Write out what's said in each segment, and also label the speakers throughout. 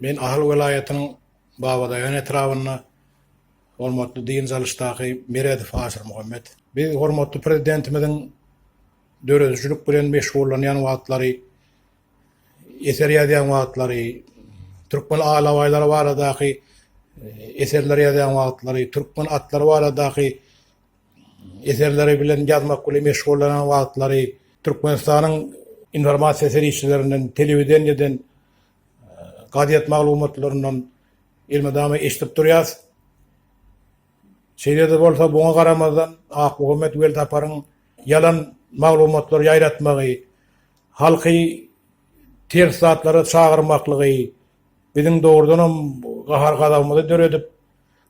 Speaker 1: Men Ahal welaýatynyň Babadaýhan etrabynda hormatly dynç alyşdaky Meredow Aşyr Muhammet. Biz hormatly Prezidentimiziň döredijilik bilen meşgullanýan wagtlary, eser ýazýan wagtlary, türkmen alabaýlary baradaky eserler ýazýan wagtlary, türkmen atlary baradaky eserleri bilen ýazmak bilen meşgullanan wagtlary, Türkmenistanyň informasiýa serişdelerinden, telewideniýeden gazet maglumatlaryndan elmydama eşidip durýas. Şeýle-de bolsa, buňa garamazdan, Akmuhammet Weltaparyň ýalan maglumatlar ýaýratmagy, halky ters zatlara çagyrmaklygy biziň dogrudanam gahar-gazabymyzy döredip,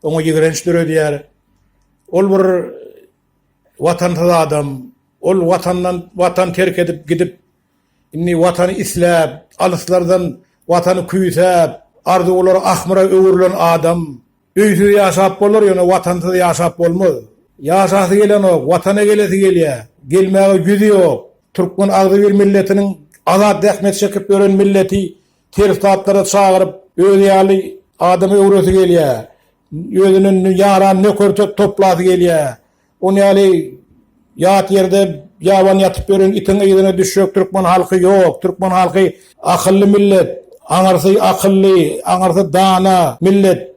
Speaker 1: oňa ýigrenç döredýär. Ol bir watansyz adam, ol watandan watan terk edip gidip, Indi Watany isläp, alyslardan Watany küýsäp, arzuwlary ahmyra öwrülen adam, Öýsüz ýaşap bolar, ýöne Watansyz ýaşap bolmaz. Ýaşasy gelenok, Watana gelesi gelýär, gelmäge ýüzi ýok. Türkmen agzybir milletiniň azat zähmet çekip ýören milleti ters zatlara çagyryp, özi ýaly adam öwresi gelýär, özüne ýaran nöker-töp toplasy gelýär. Ony ýaly ýat ýerde ýaban ýatyp ýören itiň yzyna düşjek türkmen halky ýok. Türkmen halky akylly millet, aňyrsy akylly, aňyrsy dana millet.